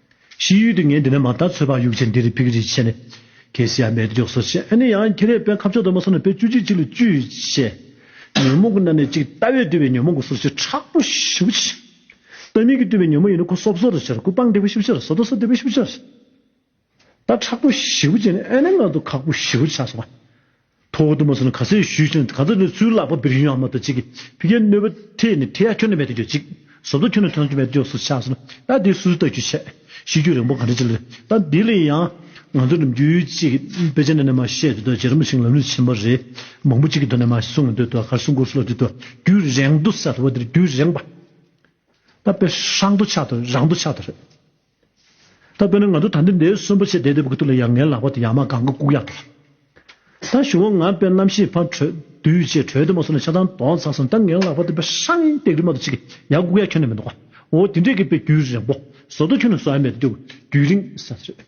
ཕྱི་ཡུལ་དུ་ངས་འདི་ནས་མ་མཐའ་ཚོས་པ་ཡུག་ཆེན་འདིར་ཕིག་རི་ཆེ་ནས། ཁེ་སི་ཡ་མེད་མགྱོགས་སོ་ཞེས་ཨ་ནེ་ཡང་ཁྱེད་རས་པའི་ཁབ་ཕྱོགས་དུ་མ་སོང་ནས་པའི་བཅུ་གཅིག་གཅིག་ལ་བཅུ་ཡོད་ཅེས། ཉོན་མོངས་ཀྱི་སྣ་ནས་གཅིག་ལྟ་བས་བཏུས་པའི་ཉོན་མོངས་ཀྱི་སོར་བཞི་ཕྲག་པོ་བཞི་པོ་ཆེ། ལྟ་མིན་གྱིས་བཏུས་པའི་ཉོན་མོངས་ཡིན་ན་ཁུ་སོབ་སོ་རུ་ཆེར་ཁུ་སྤངས་སྡེ་པོ་བཞི་པོ་ཆེར་སོ་དོ་སོ་སྡེ་པོ་བཞི་པོ་ཆེར། ལྟ་ཕྲག་པོ་བཞི་པོ་བཅས་ནས་ཨ་ནེ་མངལ་དུ་ཁག་པོ་བཞི་པོ་ཆགས་སོང་བ། ཐོག་ཏུ་མ་སོང་ན་ག་ཚོད་ཞུས་ཤིང་གང་ཚོད་ནས་ཚུར་བརླག་པ་བིར་ཡུན་ཧ་མ་ཏོ་ཅིག་གིས་བིར་ཡུན་གནོད་པ་ཁྲེས་ནས་ཁྲེས་ཡ་ཁྱོད་ནི་མེད་དུ་གྱུར་ཅིག་ཟོབ་ཏོ་ཁྱོད་ནི་ཐོན་དུ་མེད་དུ་གྱུར་སོགས་ཆགས་སོང་ན་ད་དེ་སུས་བལྟ་རྒྱུ་བྱེད། ཤི་རྒྱུ་རིང་པོ་ག་འདྲ་ཅིག་ལས་ད་འདི་ལས་ཡང་ང་ཚོ་ནམ་རྒྱུན་ཅིག་དཔེ་ཆ་ནང་ནས་མ་བཤད་དུས་ད་རྗེ་རིན་པོ་ཆེ་ལམ་ལུགས་ཆེན་པོ་རེད་མང་པོ་ཅིག་གི་དོན་ནས་མ་གསུང་གི་དུས་ད་གར་སོང་གུར་སོང་ལ་དུས་ད་རྒྱུད་རེངས་དུ་ས་དོ་བ་འདིར་རྒྱུད་རེངས་པ་ད་དཔེ་ཧྲང་དུ་ཆགས་དོ་རང་དུ་ཆགས་དོ་རེད། ད་དཔེར་ན་ང་ཚོ་ད་འདི་འདྲའི་གསོན་པོ་ཆེ་བསྡད་འདུག་པའི་དུས་ལ་ཡ་ངའི་ལག་པ་དེ་ཡང་མ་གང་གི་ལྐུགས་ཡག་ཏུ། ད་ཞུ་བོ་ང་དཔེར་ནམ་ཞིག་ཕར་བྲོས་དུས་ཅེས་བྲོས་དེ་མ་སོང་ནས་ཆ་ཚང་དོགས་ཚར་སོང་ད་ངའི་ལག་པ་དེ་དཔེར་ཧྲཱི་ཡིན་སྟེགས་རི་མ་ཏུ་ཆིག་གིས་ཡ་ལྐུགས་ཡག་ཁྱོན་ནས་མི་འདུག་གོ་འོ་དེ་འདྲས་ཀི་དཔེ་རྒྱུན་རིང་པོ་བཟོ་ལྟོ་ཁྱོད་ནས་བཟོ་ཡ་མེད་དུ་རྒྱུན་རིང་ས་རེད།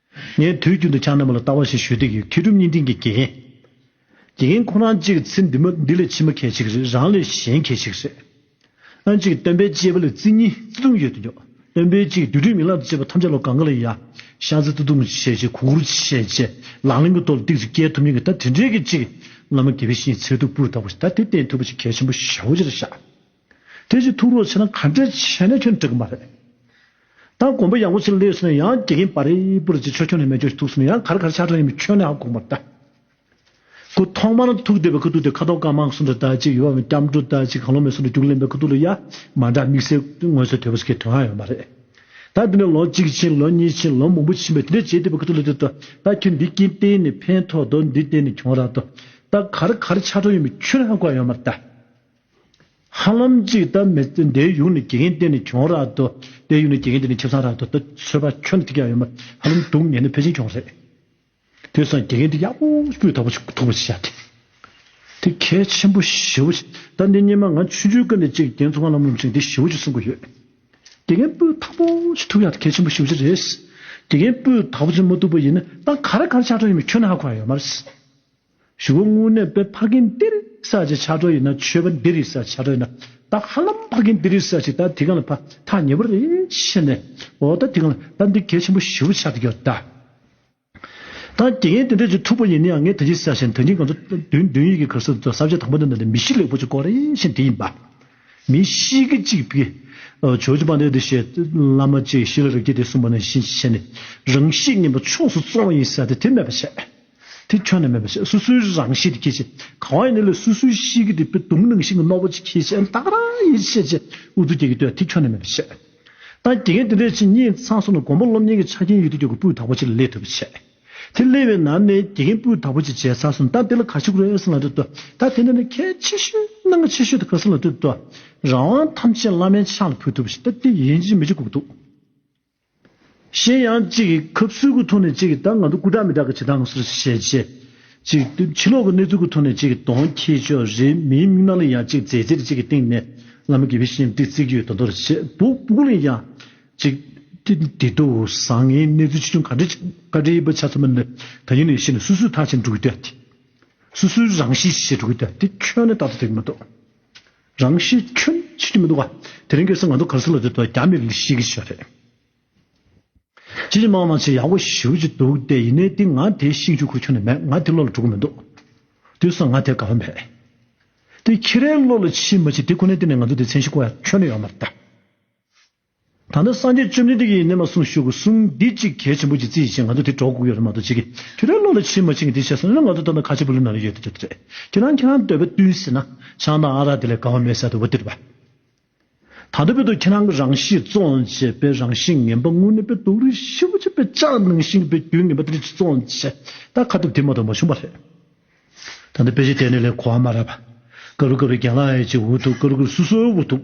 ངས་དུས་རྒྱུན་དུ་ཆང་རྣམས་ལ་ལྟ་བ་ཞིག་ཞུས་ཏེ་ཡོད་མཁས་གྲུབ་བརྙན་འཕྲིན་གྱི་དགེ་རྒན། དགེ་རྒན་ཁོ་རང་གཅིག་ཚེ་འདི་མ་འདི་ལས་ཕྱི་མ་གལ་ཆེ་གི་རེད་རང་ལས་གཞན་གལ་ཆེ་གི་རེད། ཨ་མཆོག་གིས་སྟོན་པའི་སྐྱེས་བུ་ལ་བརྩི་གཉིས་བརྩི་དུང་ཡོད་དོ་ཅོག་སྟོན་པའི་སྐྱེས་བུ་དུས་དྲུག་མིག་ལམ་དུ་བཅད་པ་ཐམས་ཅད་ལོ་གང་གི་ལ་ཡ་ཤང་བརྩི་བརྩི་དུང་བྱས་རྗེས་གུ་གུར་བྱས་རྗེས་ལག་ལེན་གྱི་ཐོག་ལ་བཏེགས་ཚེ་སྐྱེལ་ཐུབ་མཁན་གྱི་ད་དེ་འདྲའི་གི་གཅིག་སྔ་མོ་དགེ་བའི་བཤེས་ཚད་སྟུག་པོ་ལྟ་བུ་ཞིག་ད་དེ་བསྟེན་ཐུབ་པ་ཞིག་གལ་ཆེན་པོ་ཞེ་བོ་ཅི་ལ་ཤ། དེ་བཞིན་ཐུགས་རོགས་བྱས་ན་ག་འདྲས་བྱས་ནས་ཁྱོད་འགྲིག་གི་མ་རེད། ད་གོམ་པ་ཡག་པོ་ཞིག་སླེབས་ཟིན་ན་ཡང་དགེ་རྒན་པར་རིལ་པོར་བརྗེ་ཆོག་ཁྱོད་ནས་མེད་ཆོག་ཞིག་ཐུགས་ཟིན་ན་ཡང་ག་རེ་ག་རེ་ཆགས་གྲངས་ཡིན་མིན་ཁྱོད་ནས་ཨ་དགོངས་པར་གདའ། ཁོས་ཐོག་མར་ཐུགས་བདེ་བའི་ཁུ་རྡུལ་དེ་ཁ་དོག་དཀར་དམར་གསུམ་དུ་བལྟ་ཅི་ཡོད་པའམ་སྐྱབས་འགྲོ་བལྟ་ཅི་གང་ལོ་མེད་གསུམ་དུ་རྒྱུགས་ལེན་པའི་ཁུ་རྡུལ་ལ་ཡ་མ་འདྲ་དམིགས་བསལ་དངོས་གསོལ་དོད་པོ་ཞིག་གི་དོན་ཨང་ཡོད་མ་རེད། ད་འདི་ནས་ལོ་གཅིག་ཕྱིན་ལོ་གཉིས་ཕྱིན་ལོ་མང་པོ་ཕྱིན་པས་དེ་འདྲས་བྱེད་བདེ་བའི་ཁུ་རྡུལ་ལ་བལྟས་ད་ཁྱོད་འདི་སྐྱིན་གཏན་ནས་ཕན་ཐོགས་འདུག་འདི་གཏན་ནས་གྱོང་རག་འདུག་ད་ག་རེ་ག་རེ་ཆགས་གྲངས་ཡོད་མིན་ཁྱོད་ནས་ཨ་དགོངས་ཡོད་མར་གདའ། ཧ་ལམ་གཅིག་ལྟ་མི་ཚེ་འདིའི་ཡུན་ནས་དགེ་རྒན་གཏན་ནས་གྱོང་རག་ཏུ། དེའི་ཡུན་ནས་དགེ་རྒན་གཏན་ནས་ཁྱིམ་ཚང་རག་ཏུ་ཏུ་ཚོད་པ་ཁྱོན་ནས་ཐིག་རྒྱག་ཡོད་མ་ཧ་ལམ་སྡུག་བསྔལ་ནི་ཕལ་ཆེན་གྱོང་རེད། དེར་སང་དགེ་རྒན་ཐིག་རྒྱག་པོ་སྤུས་དག་པོ་ཞིག་ཐུག་པ་ཞིག་བྱ་དེ། དེ་གལ་ཆེན་པོ་ཞེ་བོ་ཞིག་ད་འདི་སྙེ་མ་ང་ཆུང་ཆུང་ཀ་ནས་ཅིག་རྒྱན་ཚོང་ཁང་ལམ་ལུམ་ཅིག་འདི་ཞེ་བོ་ཅིག་གསུང་གི་ཡོད། དགེ་རྒན་སྤུས་དག་པོ་ཞིག་ཐུག་ཡག་དེ་གལ་ཆེན་པོ་ཞེ་བོ་ཅིག་རེད། དགེ་རྒན་སྤུས་དག་པོ་ཅིག་མ་ཐུག་པ་ཡིན་ན་ད་ག་རེ་ག་རེ་ཆགས་གྲབས་ཡོད་མེད་ཁྱོན་ནས་ཧ་གོ་ཡ་ཡོད་མ་རེད། ཞི་བ་སྔོན་གནས་པས་ཕ་རྒན་ཏི་རི་ས་ཅི་ཆགས་གྲོགས་ཡིན་ན་ཆོས་པ་འདི་རི་ས་ཆགས་གྲོགས་ཡིན་ན་ད་ཧ་ལམ་ཕ་རྒན་ཏི་རི་ས་ཅི་ད་དེ་གང་ལ་ཕ་ཐག་ཉེ་བོ་རེད་ཤི་ནས་འོ་ད་དེ་གང་ལ་ད་འདི་གལ་ཆེན་པོ་ཞི་བ་ཆགས་ཏེ་གྱོ་ད། ད་དགེ་རྒན་དེ་འདྲ་ཅིག་ཐུག་པ་ཡིན་ན་ཡང་ངས་ད་ཅི་ཟེར་ཞེན་ད་ཉིན་གང་ཚོ་བདུན་བདུན་ཡིག་གི་གར་སོ་ཟ་བྱེད་དང་པོ་འདི་འདྲ་འདི་མི་གཤིས་ལེགས་པོ་ཅིག་ཀོ་རེ་ཤེན་དེ་ཡིན་པ། མི་གཤིས་ཀི་ཅིག་པི། ཇོ་ཇོ་པ་འདི་འདི་ཞེས་བླ་མ་ཅིག་ཞི་ལ་རིགས་ཀྱི་དེ་གསུངས་པ་ནི་ཤིན་ཅི་ཤེས་ནས་རང་གཤིས་ངན་པ་ཕྱོགས་སུ་བཙོང་བ་ཡིན་ཟེར་ཏེ་དེ་སྨད་པ་བྱས། དེ་ཁྱོན་ནས་མེད་པ་ཞིག་སོ་སོའི་རང་བཞིན་དུ་ཁྱེད་ཅེས། གང་བ་ཡིན་ནི་ལས་སོ་སོའི་གཤིས་ཀྱི་དེ་དུམ་ནང་བཞིན་གྱི་རྣོ་པོ་ཅིག་ཁྱེད་ཅེས་ཨེ་ཏག་ར་ཡེ་ཤེས་ཅེས་དབུ་སྟོད་སྐྱེས་ཀྱི་སྟོད་དེ་ཁྱོན་ནས་མེད་པ་ཞིག་དང་དེ་ངས་དེ་འདྲའི་ཆེ་སྙེག་མཚང་སོགས་ནི་མགོན་པོ་སློབ་གཉེར་གྱི་ཆ་རྐྱེན་ཡོད་དུས་ཀྱི་གོ་སྤུས་དག་པོ་ཅིག་ལ་སླེབས་ཐུབ་པ་ཆེ། དེ་སླེབས་པའི་ནང་ནས་དགེ་རྒན་སྤུས་དག་པོ་ཅིག་བྱས་ཚར་སོང་ད་དེ་ལ་ག་ཞིག་རོལ་སྲིད་ལ་འདོད་དོ། ད་དེ་འདྲ་ནི་གལ་ཆེ་ཤོས་གནང་གལ་ཆེ་ཤོས་དེ་ག་སྲིད་ལ་འདོད་དོ། རང་དབང་ཐམས་ཅད་བླ་མའི་ཕྱག་ལ་ཕུལ་ཐུབ་པ་ཞིག་ད་དེ་ཡིན་གཅིག་མི་གཅིག་གུག་འདུག། གཞན་ཡང་གཅིག་གིས་ཁབ་གསུལ་གྱི་ཐོག་ནས་གཅིག་གིས་ད་ང་ཚོ་སྐུ་དྲག་མི་དྲག་གི་བྱེད་སྟངས་སུ་བྱས་རྗེས། གཅིག་གིས་ཕྱི་ལོག་གི་གནས་ཚུལ་གྱི་ཐོག་ནས་གཅིག་གིས་དོན་ཁྱད་ཆོས་རེ་མིའི་མིག་ནང་ལ་ཡང་གཅིག་མཛད་རྗེས་གཅིག་གི་སྟེང་ནས་ང་མི་དགེ་བའི་བཤེས་གཉེན་བཀྲིས་བརྩེ་གྱི་ཡོད་དོ་དོ་རེ་བྱེད་འདུག་སྤུ་ལེགས་ཀྱང་གཅིག། དེ་དུས་བཟང་ངའི་གནས་ཚུལ་ཆེ་ཆུང་ག་འདྲ་ཅིག་བཀའ་དྲིན་པ་ཆ་ཚང་མ་ནི་ད་ཡིན་ནས་ཤི་ནས་སུས་སུའི་ཐག་བཅད་འགྲོ་གི་དོད་དེ། སུས་སུའི་རང་བཞིན་བྱེད་འགྲོ་གི་དོད་དེ་ཁྱོད་ནི་ད་ལྟ་དེ་གི་མ་གཏོགས། རང་ཤི་ཁྱོད་ཤི་གི་མི་འདུག་ག་དེ་རིང་གེ་སར་ང་ཚོ་གར་སོ་ལ་དེ་ཐོག་རྒྱ་མི་རིགས་ཤི་གི་ཤི་བ་རེད་ཁྱེད་ཀྱི་དམག་ནང་ཆེས་ཡག་པོ་ཞིག་ཞུ་གི་འདུག་སྟེ་ཡིན་ནའི་དེ་ང་དེ་ཤི་རྒྱུ་ཁུར་ཁྱོན་ནས་མེད་ང་དེ་བློ་ལ་འགྲོ་གི་མི་འདུག་དུས་སང་ང་དེ་དགའ་བ་མེད་དེ་ཁྱེད་རའི་བློ་ལ་ཕྱིན་མ་ཕྱིན་དེ་ཁོ་ནའི་སྟེང་ནས་ང་ཚོ་དེ་མཚན་ཤི་ཁུར་ཡག་ཁྱོན་ནས་ཡོད་མ་རེད། ད་ནི་སངས་རྒྱས་བཅོམ་ལྡན་འདས་ཀྱིས་གནས་མ་གསུངས་ཤོག་གུ་གསུམ་འདི་ཅིག་གལ་ཆེན་པོ་ཅིག་རྩིས་བྱེད་ང་ཚོ་དེ་གྲོགས་དགོས་ཀྱི་རེད་མ་གཏོགས་ཅི་གི་དུས་རབས་བློ་ལ་ཕྱིན་མ་ཕྱིན་གི་དེ་བྱས་སོང་ན་ང་ཚོ་ལྟ་ན་ཁ་ཆེ་པོ་ལུས་ན་ལ་ཡོད་དེ་རེད། ཁྱེད་རང་ཁྱེད་རང་འདོད་པ་བསྟུན་ཟེར་ན་ཆང་དང་ཨ་རག་དེ་ལས་དགའ་བ་མེད་ས་དེ་བོ་དེ་རེད་བ། ད་ལྟ་བོད་དུ་ཁྱེད་རང་གི་རང་གཤིས་བཙོང་བྱེད་དཔེ་རང་གཤིས་ངན་པ་དངོས་གནས་དཔེ་དུག་རིགས་ཧྲིལ་བོ་ཅན་དཔེ་ལྕག་ནང་བཞིན་གྱི་དཔེ་རྒྱུན་ངན་པ་དེ་རིགས་ཅིག་བཙོང་བྱེད་ད་ཁ་ཐུབ་དེ་མ་གཏོགས་མ་བྱུང་བ་རེད། ད་ནི་དཔེ་ཆ་དེ་ནི་ལས་གོ་བ་མ་རག་བ། དཀར་རུ་དཀར་རུ་རྒྱང་ལ་ཨེ་ཅིག་འུར་འདུག་དཀར་རུ་དཀར་རུ་སུ་སུའི་འུར་འདུག།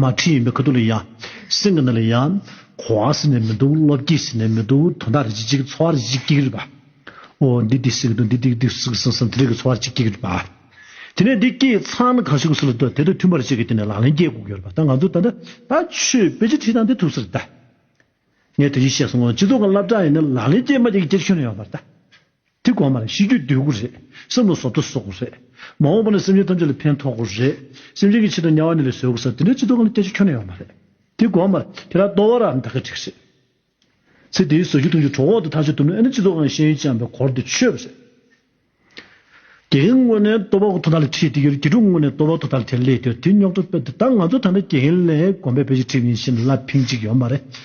མ་ཁྲིད་ཡིན་པའི་ག་དུག་ལ་ཡ། སེམས་ཀྱི་ནད་ལ་ཡ། གོ་བ་ཟིན་ནས་མི་འདུག་བློ་བསྐྱེད་ཟིན་ནས་མི་འདུག་དོན་དག་རིག་ཅིག་འཚོ་བ་རིག་ཅིག་སྐྱིད་རིག་པ། འོ་འདི་འདི་སྲིད་ཀྱི་དོན་འདི་འདི་འདི་སྲིད་ཀྱི་སེམས་སམ་དེ་རིག་གི་འཚོ་བ་རིག་ཅིག་སྐྱིད་རིག་པ། དེ་ནས་འདི་སྐྱེས་ཚང་ན་གང་བྱུང་སྲིད་ལ་འདོད་དེ་དང་མཐུན་པར་བྱས་ཀྱི་དེ་ནས་ལག་ལེན་སྐྱེས་དགོས་ཀྱི་ཡོད་རེད་པ་ད་ང་ཚོས་ད་ལྟ་ད་ཆོས་དཔེ་ཅི་ཁྲིད་དང་དེ་ཐུག་ས་རེད་ད། ངས་དེ་བཞིན་བཤད་སོང་ངོ་སྤྱི་ཚོགས་ཀྱི་བསླབ་བྱ་ཡིན་ན་ལག་ལེན་སྐྱེས་མ་སྐྱེས་ཀྱི་སྐྱེ་ཁྱོན་ཡོད་པ་རེད་ད། དེ་དགོངས་པ་ན་ཤེས་རྒྱུད་འདོད་དགུ་རེད། བསམ་བློ་བཟོ་ལྟ་བཟོ་དགུ་རེད། མ་འོངས་པ་ན་སེམས་ཅན་ཐམས་ཅད་ལ་ཕན་ཐོགས་དགུ་རེད། སེམས་ཅན་གྱི་ཕྱི་དང་དམྱལ་བ་ནས་ལས་བཟོས་དགུ་ས་དེ་འདྲའི་ཚིག་ཐོག་གང་ལ་བལྟས་ཆོག་ཁྱོན་ན་ཡོད་མ་རེད། དེ་དགོངས་པ་ན་དེ་དག་ལྟོ་བ་ར་འདག་གི་ཁྲིགས་རེད། ཚེ་འདིའི་ཟོ་རྒྱུ་འཐུང་རྒྱུ་གྲོགས་འོག་ཏུ་ཐག་གཅོད་ཐུབ་ན་ཨེ་ན་སྤྱི་ཚོགས་ཁང་ཤེས་ཡོན་ཅན་པའི་གོར་དེ་ཆོད་པ་རེད། དེའི་སྔོན་ནས་ལྟོ་བ་དོ་དག་ལ་ཁྲིད་དེ་ཡོད་རེད་དགེ་ཕྲུག་དངོས་ནས་ལྟོ་བ་དོ་དག་ལ་ཁྲིད་ལེ་དེ་ཡོད་དེ་རྙོག་དྲ་སྤེལ་དེ་ད་ང་ཚོ་ཐ་ན་དགེ་རྒན་ལས་དགོན་པའི་དཔེ་ཆ་ཁྲིད་མཁན་ཤེས་ན་ལ་ཕིང་གཅིག་ཡོད་མ་རེད།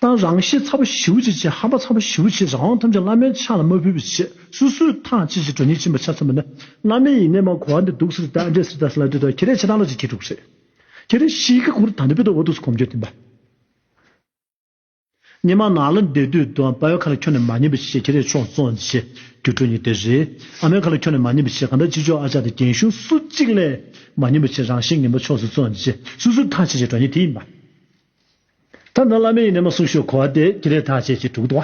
དང་རང་གཤེད་ཚ་པོ་ཞིའུ་ཅི་ཆེ་ཧམ་པ་ཚ་པོ་ཞིའུ་ཆེ་རང་དབང་ཐམས་ཅད་བླ་མའི་ཕྱག་ལ་མ་ཕུལ་བའི་ཕྱིར་སུ་སུའི་ཐང་ཅི་ཞིག་གྲོ་སྙིང་བཅིངས་པ་ཆ་མཚོན་པ་ནི་བླ་མའི་ཡིན་ནས་མ་གོ་བ་འདི་སྡུག་སིར་དང་འདྲེ་སིར་དང་སིལ་ལ་དུས་དང་ཁྱི་རས་ཆེ་དང་ལོ་ཅིག་ཁྱི་དྲུག་རེད། ཁྱི་རས་ཤིག་གི་གུར་དང་དུ་བུད་དུ་འོ་དུག་སུ་གོམ་འགྱོད་འཐེན་པ། ཉི་མ་ནག་ལ་འདས་དུས་དུ་དཔའ་བོའི་ཁ་ལ་ཁྱོད་ནི་མ་ཉན་པའི་ཕྱིར་ཁྱི་རས་ཕྱོགས་བཙོང་བྱས་རྒྱུ་གྲོ་སྙིང་དེ་རེད། ཨ་མའི་ཁ་ལ་ཁྱོད་ནི་མ་ཉན་པའི་ཕྱིར་གང་ལྟར་ཅི་ལྕོགས་ཨ་ཅག་དང་རྒན་ཞུང་སུ་གཅིག་ལས་མ་ཉན་པའི་ཕྱིར་རང་གཤེད་ངན་པ་ཕྱོགས་སུ་བཙོང་བྱས་སུ་སུའི་ཐང་ཅི་ཞིག་གྲོ་སྙིང་དེ་ཡིན་པ། ད་ནི་བླ་མའི་ཡི་ནི་མ་སུག་ཤོས་གོ་བ་དེ་ཀྱི་རེ་ཐག་ཆད་ཅིག་དྲུག་ཏུ་བ།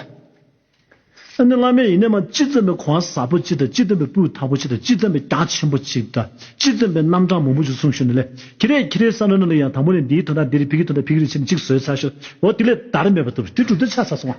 ཨ་ནི་བླ་མའི་ཡི་ནི་མ་ཅི་ཙམ་པའི་གོ་བ་ཟབ་པོ་ཅིག་དང་ཅི་ཙམ་པའི་སྤུས་དག་པོ་ཅིག་དང་ཅི་ཙམ་པའི་རྒྱ་ཆེན་པོ་ཅིག་དང་ཅི་ཙམ་པའི་རྣམ་གྲངས་མང་པོ་ཅིག་གསུངས་ཤོར་ནས་ལས་ཀྱི་རེ་ཀྱི་རེ་ས་ལོ་ན་ལོ་ཡང་དང་པོ་ནས་འདིའི་དོན་དང་འདི་རེ་ཕི་གི་དོན་དང་ཕི་གི་རེ་ཕྱི་ནས་ཅིག་བཟོས་ཚར་ཤོག་འོ་དེ་ལས་དར་མེད་པ་ཐུབ་བྱུང་དེ་དྲུག་ཏུ་ཆ་ཚ་སོང་བ།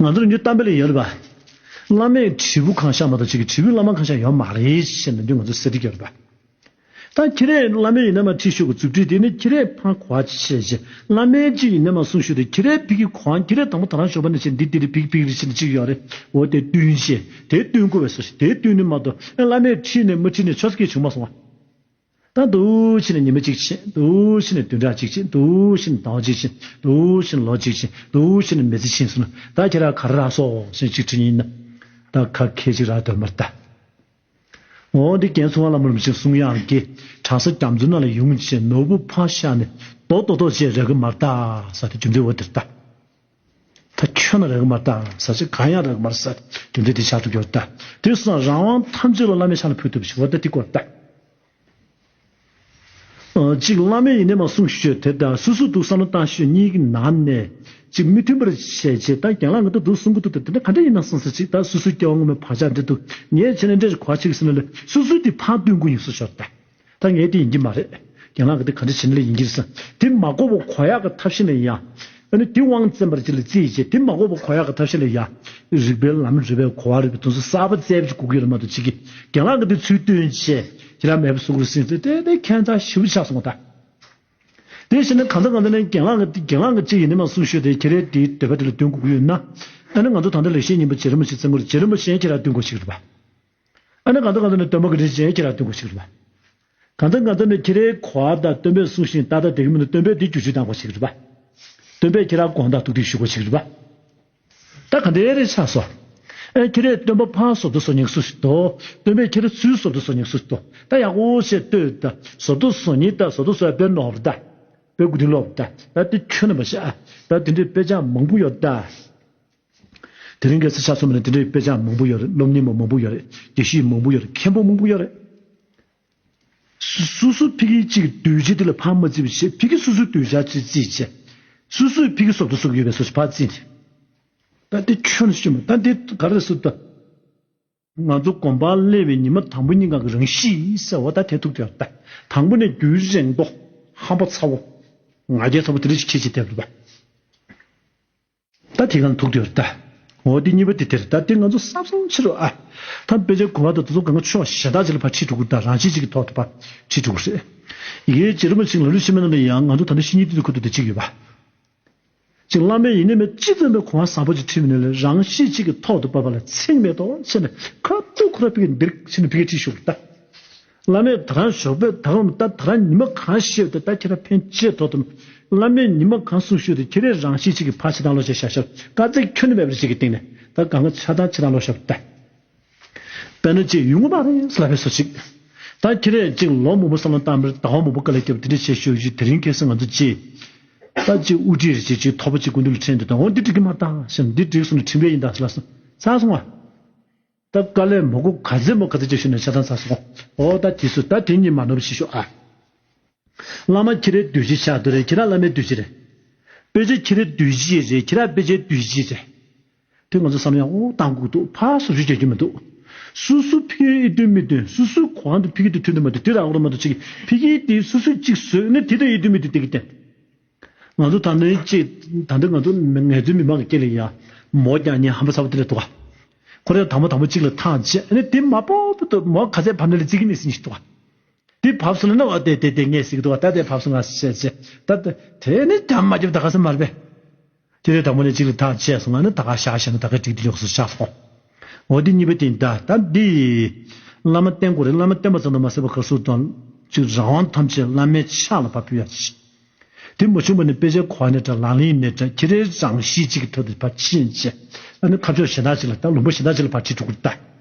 ང་ཚོར་ཉུ་གཏམ་དཔེ་ལས་ཡོད་རེད་པ། བླ་མས་དྲིལ་བུ་གང་བཞག་མ་གཏོགས་ཁྱེད་ཀྱི་དྲིལ་བུའི་བླ་མ་གང་བཞག་ཡོད་མ་རེད་བཤད་མི་འདོད་ང་ཚོར་གསལ་འཁྲིད་རྒྱབ་རེད་པ། ད་ཁྱེད་རས་བླ་མའི་ཡིན་ན་མ་ཁྲིད་ཤོག་གི་རྩུབ་ཁྲིད་དེ་ནི་ཁྱེད་རས་ཕངས་གོ་བ་ཅི་བྱེད་བྱེད་བླ་མའི་གཅིག་ཡིན་ན་མ་གསུངས་ཤོག་དེ་ཁྱེད་རས་ཕིག་གི་གོ་འང་ཁྱེད་རས་དང་པོ་ད་རང་ཞོགས་པ་ནས་བྱེད་འདི་དེ་རེད་ཕིག་ཕིག་རེད་བྱེད་འདི་གཅིག་ཡོད་རེད་འོ་དེ་བསྟུན་བྱེད་དེ་བསྟུན་གོ་བས་སོ་བྱེད་དེ་བསྟུན་ནི་མ་གཏོགས་ཨེ་བླ་མས་ཁྲིད་ནས་མི་ཁྲིད་ནས་ཆོས་སྐད་བྱུང་མ་སོང་བ། དང་དུ་ཕྱི་ནས་ཉི་མ་གཅིག་ཕྱིན། དུ་ཕྱི་ནས་བདུན་ཕྲག་གཅིག་ཕྱིན། དུ་ཕྱི་ནས་ཟླ་བ་གཅིག་ཕྱིན། དུ་ཕྱི་ནས་ལོ་གཅིག་ཕྱིན། དུ་ཕྱི་ནས་མི་ཚེ་ཕྱིན་ཟེར་ན། ད་ཁྱེད་རང་ག་རེ་རག་སོགས་ཤིང་གཅིག་དྲིས་ཉིན། ད་ཁ་ཁད་ཅིག་རག་འདོད་མ་རྟ། ངོ་འདི་གན་ཚུ་ང་ལ་མུར་མི་ཕྱིན་གསུང་ཡང་དགེ། གྲང་ས་སྐྱམ་མཛོད་ན་ལ་ཡུང་བྱས་ནོར་བུ་ཕ་ཤ་ནས། རྡོག་རྡོག་རྡོག་བྱས་རེག་གི་མ་རྟ། ས་དེ་རྒྱུ་འབྲས་འོ་དེར་ལྟ། ད་ཁྱོད་ན་རེག་མར་བལྟ་འམ་ཟ་ཅིག་གང་ཡང་རེག་མར་ཟ། དེ་འདྲའི་དེ་ཆགས་ཐུབ་ཀྱི་བར་བལྟ། དེ་སོང་རང་དབང་ཐམས་ཅད་ལ་བླ་མའི་ཕྱག་ན་ཕུལ་ཐུབ་པའི་ཕྱིར་བར་བལྟ་དེ་སྐོར་བལྟ། གཅིག་བླ་མའི་ཡེ་ནས་མ་གསུངས་ཤོས་དེ་དང་སུ་སུ་འདུག་བསམ་བློ་བཏང་ཤོས་གཉིས་ཀྱི་ནང་ནས་གཅིག་མི་མཐུན་པར་བྱས་རྗེས་ད་རྒྱང་ལ་ང་ད་དུ་གསུང་གི་འདུག་དེ་འདྲ་ག་འདྲ་ཡིན་ནམ་སོང་ཟ་ཅིག་ད་སུ་སུའི་སྐྱེ་བ་སྔོན་མའི་བག་ཆགས་འདི་འདུག་ངས་བྱས་ནས་འདྲ་ཞིག་གོ་བ་ཅིག་ཟེར་ན་ལས་སུ་སུ་དེ་ཕར་བསྟུན་དགོས་ཡིན་སོགས་ཞོར་བལྟ། ད་ངའི་དེ་ཡིན་གྱི་མ་རེད། རྒྱ་ནག་གི་དེ་ག་འདྲ་བྱེད་ན་ལེགས་ཡིན་གྱི་རེད་བསམ། དེ་མ་བསྐོ་བ་གོ་ཡག་གི་ཐབས་ཤེས་ལ་ཡ། ཨ་ནི་དེ་དབང་བཙན་པར་ཅི་ལ་བརྩི་ཡི་ཅེ་དེ་མ་བསྐོ་བ་གོ་ཡག་གི་ཐབས་ཤེས་ལ་ཡ། རིགས་པའི་ལམ་རིགས་པའི་གོ་བ་རིགས་པའི་དོན་སོགས་གསར་པ་བཙལ་བྱེད་གུག་ཡོད་ལ་མ་གཏོགས་ཅི་གི། རྒྱ་ནག་གི་དེ་ཚུལ་སྟོན་བྱེད་ཅེ་ར་མེད་པ་སོགས་ཀུར་སེང་ཚོས་དེ་དེ་ཁྱད་མཚར་ཞིབ་པོ་ཆགས་སོང་བ་ད། དེ་བྱས་ན་གང་ལྟར་གང་ལྟར་ནས་རྒྱ་ནག་གི་དེ་རྒྱ་ནག་གི་ཅི་ཡིན་ནི་མ་གསུངས་ཤོས་དེ་ཁྱེད་རས་དེའི་འདོད་པ་དེ་ལ་སྟོན་གུག་ཡོད་ན། ཨ་ནི་ང་ཚོ་ད་ལྟ་ལེགས་བཤད་སྙིང་པོ་རྗེ་རིན་པོ་ཆེ་བཙལ་མགོ་རེད་རྗེ་རིན་པོ་ཆེས་ཁྱེད་ར་སྟོན་གོ་ཞིག་རེད་བ། ཨ་ནི་གང་དང་གང་དུ་ནི་སྟོན་པ་གྱི་རིགས་ཅན་ཁྱེད་ལ་སྟོན་དགོས་ཤིག་རེད་པ། གང་དང་གང་དུ་ནི་ཁྱེད་རའི་གོ་བ་དང་སྟོན་པས་གསུངས་ཤིང་ད་ལྟ་དེ་གི་མི་ནི་སྟོན་པས་དེ་རྒྱུ་ཇུས་གཏང་དགོས་ཤིག་རེད་པ། སྟོན་པས་ཁྱེད་ར་དགོངས་དག་ཐུགས་ཐིག་ཞུ་དགོས་ཤིག་རེད་པ། ད་ག་འདི་རེ་ཆགས་སོ། ཨེ་ཁྱེད་རས་སྟོན་པ་ཕ་ཟོབ་ཏུ་སོ་ཉིག་སུ་ཞིག་ཏོ། སྟོན་པས་ཁྱེད་ར་ཚུལ་ཟོབ་ཏུ་སོ་ཉིག་སུ་ཞིག་ཏོ། ད་ཡག་པོ་ཞེས་ལྟོས་ད། ཟོབ་ཏུ་སོ་ཉིག་ད་ཟོབ་ཏུ་སོ་ཡ་པས་ནོར་ད། པས་དགུ་ཐིག་ལོར་ད། ད་དེ་ཁྱོད་ནི་མ་ཤ་ཨ། ད་དེ་འདྲའི་དཔེ་ཆ་མང་པོ་ཡོད་ད། དེ་རིང་གི་སི་ཆ་སོ་མ་ནས་དེ་འདྲའི་དཔེ་ཆ་མང་པོ་ཡོད་རེད་སློབ་གཉེར་མ་མང་པོ་ཡོད་རེད་དགེ་བཤེས་མང་པོ་ཡོད་རེད་མཁན་པོ་མང་པོ་ཡོད་རེད། སུ་སུ་ཕི་གི་གཅིག་སྡུད་བྱེད་དེ་ལ་ཕར་མ་བརྩི་བར་བྱེད་ཕི་གི་སུ་སུ་སྡུད་བྱ་བྱེད་བརྩི་བྱེད། སུ་སུ་ཕི་གི་སོབ་ཏུ་སོབ་ཡོད་པའི་སོ་ཕར་བརྩི། ད་དེ་ཁྱོད་ཤི་མ་ད་དེ་ག་རེ་སུ་ད། ང་ཚོ་དགོན་པར་སླེབས་པའི་ཉི་མ་དང་པོ་གཉིས་ཀ་གི་རང་གཤིས་ཟེར་བ་ད་ཐེ་ཐུག་དེ་ལྟ། དང་པོ་ནས་རྒྱུན་རིང་པོ་ཧམ་པ་ཚ་བོ། ང་རྒྱལ་ཚ་བོ་དེ་རིགས་ཀྱི་ཁྱད་ཆེ་དེ་ལྟ། ད་ཐེ་གང་ཐུག་དེ་ལྟ། འོ་དེ་གཉིས་པ་དེ་དེ་ལྟ་དེ་ང་ཚོ་བསམ་བསམ་ཕྱིར་རོ་ཨ། ད་དཔེ་ཆའི་གོ་བ་དང་ད་དུང་གང་གི་ཆོས་བ་གཞན་དག་ཅིག་ལ་ཕར་ཁྲིད་འགྲོ་དགོས་དང་རང་གཤིས་གཅིག་གི་ཐོག་ཏུ་ཕར་ཁྲིད་འགྲོ་དགོས་རེད། ཡའི་རྗེ་རིན་པོ་ཆེ་ལ་ལུས་ཕྱི་མའི་ནང་དུ་ཡང་ང་ཚོ་ད་ལྟ་གཤིས་གཉིས་སྟེང་དུ་འཁོད་འདུག་དེ་གཅིག་ཡོད་པ། ཅིག་བླ་མའི་ཡིན་ནི་མེད་ཅིག་སྟོན་པའི་གོང་བ་ཟབ་པོ་ཅིག་ཁྲིད་མི་ནུས་ལ་རང་གཤིས་གཅིག་གི་ཐོག་ཏུ་བབས་པ་ལ་ཚེགས་མེད་དོ་ཞེས་ནས་ཁ་ཐུག་ཁོ་ར་ཕི་གེ་འདིར་ཞེས་ནས་ཕི་གེ་ཁྲིད་ཞུགས་པར་ལྟ། བླ་མས་ད་རང་ཞོགས་པས་ད་རུང་ལྟ་ད་རང་ཉི་མ་གང་ཤེས་ཏེ་ད་ཁྱེད་ར་ཕན་ཆད་ཐོག་ཏུ་བླ་མས་ཉི་མ་གང་གསུངས་ཞུས་ཏེ་ཁྱེད་རས་རང་གཤིས་གཅིག་གི་ཕ་ཕྱི་དང་ལོ་ཞེས་བྱ་ཞབས་དཀར་རྩེ་ཁྱོན་ནས་བབས་པ་ཅིག་གི་སྟེང་ནས་ད་གང་གི་ཆ་ད་ཁྱེད་རང་ལོ་ཞབས་པར་ལྟ། དཔེར་ན་གཅིག་ཡུལ་ངོ་མ་རེད་ཟེར་ལབ་པའི་སོ་ཅིག། ད་ཁྱེད་རས་གཅིག་ལོ་མང་པོ་བསམ་བློ་བཏང་མིར་ད་བ་མང་པོ་ཀ་ལས་སྐྱེས་པ་དེ་འདྲ་བྱས་ཤོག་ཅིག་དེ་རིང་ཁེ་སེ་ང་ཚོ་ཅིག། ད་གཅིག་དབུ་ཁྲིད་རེ་བྱེད་ཅིག་ཐོག་པ་ཅིག་ཀུན་འདུ་ལ་ཁྲེལ་འདི་དང་འོ་འདི་འགྲིག་གི་མ་ད་ཞེས་འདི་འགྲིག་སོང་ནས་ཁྲིམས་འགལ་ཡིན་ད་ཟེར་ལབ་སོང་ཚར་སོང་ང། ད་ཀ་ལས་མོ་ཀོ་ག་ཚད་མོ་ག་ཚད་ཅིག་ཞུས་ནས་ཆ་ཚང་ཚར་སོང་ཨོ་ད་དེ་སུ་ད་དེ་གཉིས་མ་ནོར་བ་བྱེད་ཤོག་ཨ། བླ་མ་ཁྱེད་རས་དུས་བཞི་ཆགས་འདུག་རེད་ཁྱེད་ར་བླ་མའི་དུས་བཞི་རེད། དཔེ་ཆ་ཁྱེད་རས་དུས་བཞི་རེད་ཁྱེད་ར་དཔེ་ཆའི་དུས་བཞི་རེད། དེ་ང་ཚོ་བསམ་ཡང་ཨོ་གཏང་སྒུག་འདུག་ཕ་སོ་བཞུ་བྱེད་རྒྱུ་མི་འདུག་སུ་སུ་ཕི་ཨེ་བསྟུན་མི་བསྟུན་སུ་སུའི་གོ་འང་དུ་ཕི་ཁི་དུ་ཐུན་དུ་མ་དུ་དེ་ར་ཨོ་མ་དུ་ཆི་ཁི་ཕི་ཁི་དེ་སུ་སུ་གཅིག་བཟོས་ནས་དེ་དེ་ཨེ་བསྟུན་མི་བསྟུན་དེ་གི་བསྟན། ང་ཚོ་ད་ནི་ཅི་ད་འདི་ང་ཚོ་ངལ་རྩོལ་མི་མང་གི་སྐད་ལས་ཡ་མོ་རྐྱང་གཉིས་ཧམ་པ་ཚ་བོ་དེ་ལས་འདུག་ཁོ་རང་དང་མོ་དང་མོ་གཅིག་ལ་ཐང་ཆད་ནས་དེ་མ་པོ་པོ་དུ་མོ་ག་ཚད་བབ་ནས་ལ་རྩིས་ཀི་ནས་ཟིན་ཞིག་འདུག་དེ་བབ་སོང་ལ་ན་བ་དེ་དེ་དེ་ངས་ཟིག་གི་འདུག་ད་དེ་བབ་སོང་ང་ཟེར་ཟེར་ད་དེ་ནི་དམ་མ་རྒྱབ་ད་ག་ས་མ་རེད་པས། དེ་ལས་དང་པོ་ནས་གཅིག་ལ་ཐག་བཅད་སོང་ང་ནི་ད་ག་ཤག་ཤག་ནི་ད་ག་ཀྲིག་ཏུ་ཉོག་སོ་ཤག་སོང་ངོ་དེ་གཉིས་པའི་སྟེང་ད་ད་འདི། བླ་མ་བསྟེན་དགོས་རེད་བླ་མ་བསྟེན་པ་ཙམ་དུ་མ་ཟད་པ་ག་སུ་དང་ཅིག་རང་དབང་ཐམས་ཅད་བླ་མའི་ཕྱག་ལ་ཕབ་ཕུལ་ཡག་ཅིག་དེ་མ་བྱུང་བ་ནི་དཔེ་ཆའི་གོ་བ་ནས་དྲ་ལམ་ལིང་ནས་དྲ་ཁྱེད་རའི་རང་གཤིས་གཅིག་གི་ཐོད་དུ་ཕ་ཕྱིན་ཆད་ད་ནི་ཁ་ཕྱོགས་གཞན་དག་ཅིག་ལ་ད་ལུང་པ་གཞན་དག་ཅིག་ལ་ཕ་ཁྲིད་འགྲོ་དགོས་རེད་ད།